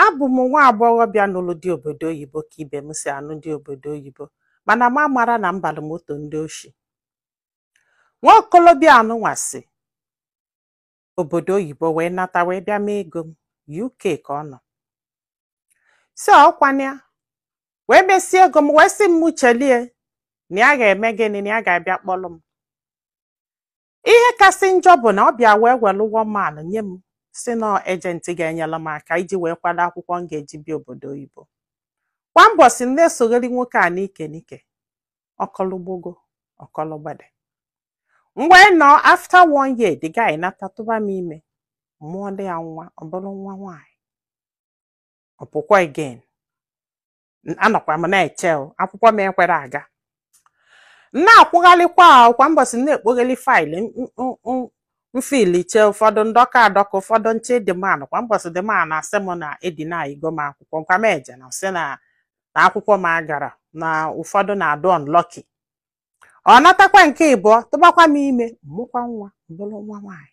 Abụ m nwa agbọghọbịa nụrụ di obodo oyibo ka ibe m si anụ di obodo oyibo mana m amara na m balụ moto ndị oshi. Nwa okolobịa anụnwa si obodo oyibo wee nata wee bịa mee ego m UK ka ọ nọ. Si ọkwana ya wee mesie ego m wee sị m mụ chelie na ya ga-eme gịnị na ya ga-abịa kpọrọ m. ihe kasị njọ bụ na ọ bịa wee were one man nye m sị na agent ga-enyere m aka iji wee kwado akwụkwọ m ga-eji bịa obodo oyibo kwa mbọsị m na-esogheri nwoke a n'ike n'ike ọkọlụgbogo ọkọlụgbede ngwanụ after one year the guy nata tụba m ime mụọlụ ya nwa ọ bụrụ nwa nwaanyị ọ pụkwa again Anọkwa m na-eche o, akwụkwọ m ekwere aga M na-akwụgharịkwa kwa mbọsị m na-ekpogheli file m fill-che ụfọdụ m dọka adọka ụfọdụ m che the man kwa mbọsị the man na-asị m na e deny-go m akwụkwọ kwa m eje na-asị na akwụkwọ m agara na ụfọdụ na-adị unlucky ọ natakwa nke ibụọ tụbakwa m ime mụkwa nwa ọ bụrụ nwa nwaanyị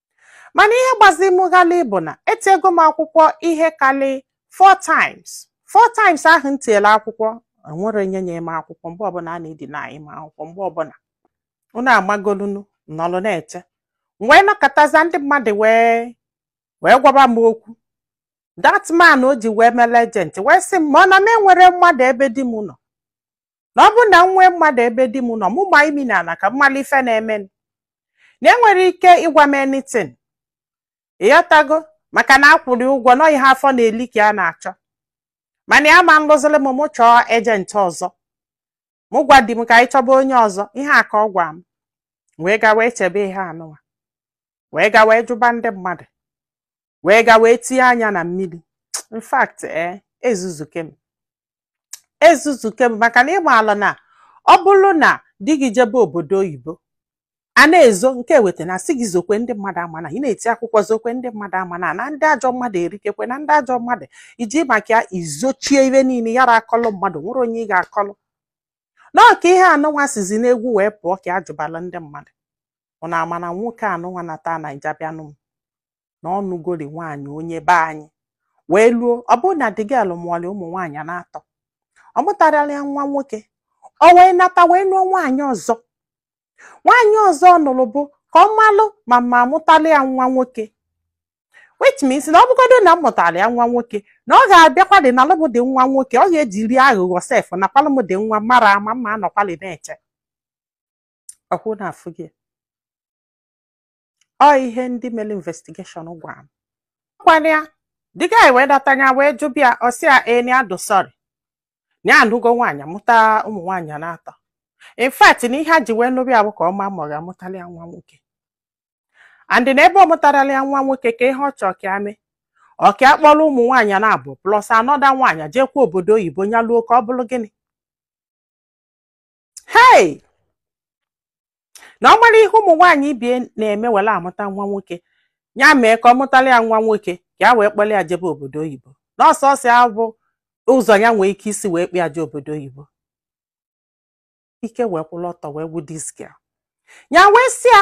mana ihe gbazi m ghalị bụ na etiego m akwụkwọ ihe karị four times four times ahụ m tiela akwụkwọ enwere onye nye m akwụkwọ mgbe ọbụla a na-edeny m akwụkwọ mgbe ọbụla unu amagolunu nọlụ na-eche m wee nọkatazia ndị mmadụ wee gwaba m okwu that man o ji wee mere agent wee sị m ma ọ na m enwere mmadụ ebe di m nọ na ọ bụrụ na m nwee mmadụ ebe di m nọ mụ gbaa imi na ala ka m mara ife na-eme m. na enwere ike ịgwa m anything ị ghọtago maka na akwụrụ ụgwọ na ọ ihe afọ na-eli ka a na-achọ mana ya ama alụziri m mụ chọọ agent ọzọ mụ gwa di m ka anyị chọba onye ọzọ ihe a ka ọ gwa m wee ga wee chebe ihe anụwa wee ga wee jụba ndị mmadụ wee ga wee tinye anya na mmiri in fact ee eh, ezuzuke m ezuzuke m maka na ị malụ na ọ bụrụ na di gị jebe obodo oyibo a na-ezo nke weta na sị gị zokwe ndị mmadụ ama na ị na-eti akwụkwọ zokwe ndị mmadụ ama na na ndị ajọ mmadụ erikekwe na ndị ajọ mmadụ i ji maka ya zochie ihe niile yara akọlụ mmadụ nwere onye ị ga-akọlụ na ọ ka ihe anụnwa sizi n'egwu wee pụọ ka a jụbalụ ndị mmadụ unu ama na nwoke anụnwa nata Naija bịanụ m na ọ nụgori nwaanyị onye be anyị wee luo ọ bụrụ na the girl mụọlị ụmụ nwaanyị n'atọ ọ mụtarala ya nwa nwoke o wee nata wee lụọ nwaanyị ọzọ nwaanyị ọzọ ọ nụrụ bụ ka ọ malụ ma ma amụtala ya nwa nwoke which means na ọ bụgodo na m mụtara ya nwa nwoke na ọ ga-abịakwalị nalụ m the nwa nwoke ọ ga-ejiri aghụghọ sef nakwalụ m the nwa mara ama m anọkwalị na-eche ọkwa unu afụgo ọ ihe ndị mere investigation gwara m kwa na the guy wee lata nya wee jụba ya ọ sị ya ee na ya dị sorry na ya anụgo nwaanyị mụta ụmụ nwaanyị naatọ in fact na ihe ya ji wee nụba ya bụ ka ọ ma ma ọ ga-amụtalị ya nwa nwoke and na ebe ọ mụtarọlị ya nwa nwoke kee ihe ọ chọọ ka ya mee ọ ka ya kpọrọ ụmụ nwaanyị naabọ plus another nwaanyị jeekwa obodo oyibo nya luo ka ọ bụrụ gịnị hei na ọ mara ihe ụmụ nwaanyị ibe ya na-eme were amụta nwa nwoke ya mee ka ọ mụtalị ya nwa nwoke ka ya wee kpọrọ ya jebe obodo oyibo na ọ sọọsọ ya bụ ụzọ ya nwee ike isi wee kpọ ya je obodo oyibo ike wee kwụrụ ọtọ wee gwụ this girl ya wee sị ya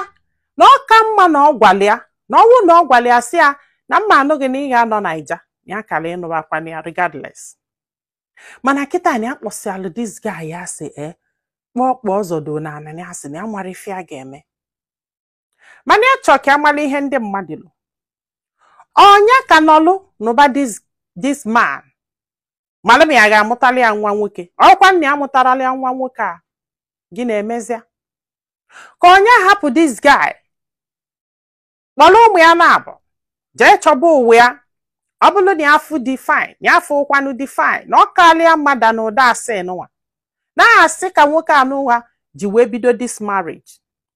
na ọ ka mma na ọ gwara ya na ọ bụ na ọ gwara ya sị ya na m ga-anụ gị na ị ga-anọ Naija ya kara ịnụbakwana ya regardless mana kịta na ya kpọsịalụ this guy asị e kpọọ kpọọ ọzọdo na ananị asị na ya marọ ife ya ga-eme mana ya chọọ ka ya mara ihe ndị mmadụ lo ọ nya ka nọlụ nụba this man mara ma ya ga-amụtalị ya nwa nwoke ọ kwanụ nya amụtarọlị ya nwa nwoke a gịnị emezia ka ọ nya hapụ this guy kpọrọ ụmụ ya naabọ jee chọba ụwa ya ọ bụrụ na ya afụ di fine ya afụrọkwanụ di fine na ọ kalị ya mma than ụdị asị nụwa na asị ka nwoke anụwa ji wee bido this marriage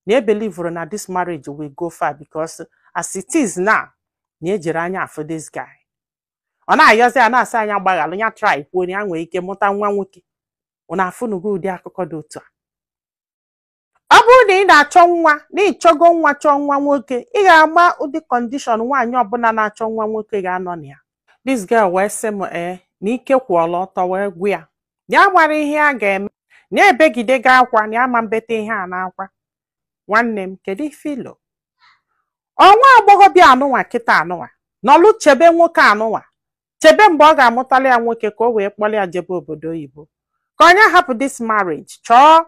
na ya ebelieverọ na this marriage will go far because as it is now na ya ejirọ anya afụ this guy ọ na-ayọzi ya na-asị nya gbaghalụ ya try kwuo ya nwee ike mụta nwa nwoke unu afụnugo ụdị akụkọ dị otu a ọ bụrụ na ị na-achọ nwa na ị chọgo nwa chọọ nwa nwoke ị ga-ama ụdị condition nwaanyị ọbụla na-achọ nwa nwoke ga-anọ na ya this girl wee sị m ee na ike kwụọla ọtọ wee gwụ ya na ya marọ ihe ya ga-eme na ya ebegidego akwa na ama mbeta ihe a n'akwa nwanne m kedu ife i lo ọ nwa agbọghọbịa anụnwa kịta anụnwa nọlụ chebe nwoke anụnwa chebe mgbe ọ ga-amụtalị ya nwoke ka o wee kpọrọ ya jebe obodo oyibo ka ọ nya hapụ this marriage chọọ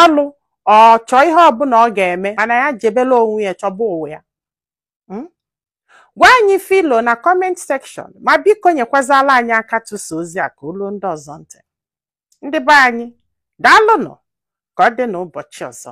ọlụ ọ chọọ ihe ọbụla ọ ga-eme mana ya jebelụ onwe ya chọba ụwa ya Hmm? gwa anyị ife i lo na comment section ma biko nyekwazala anyị aka tụsa ozi a ka o luo ndị ọzọ ntị ndị be anyị daalụ nụ ka ọ dị n'ụbọchị ọzọ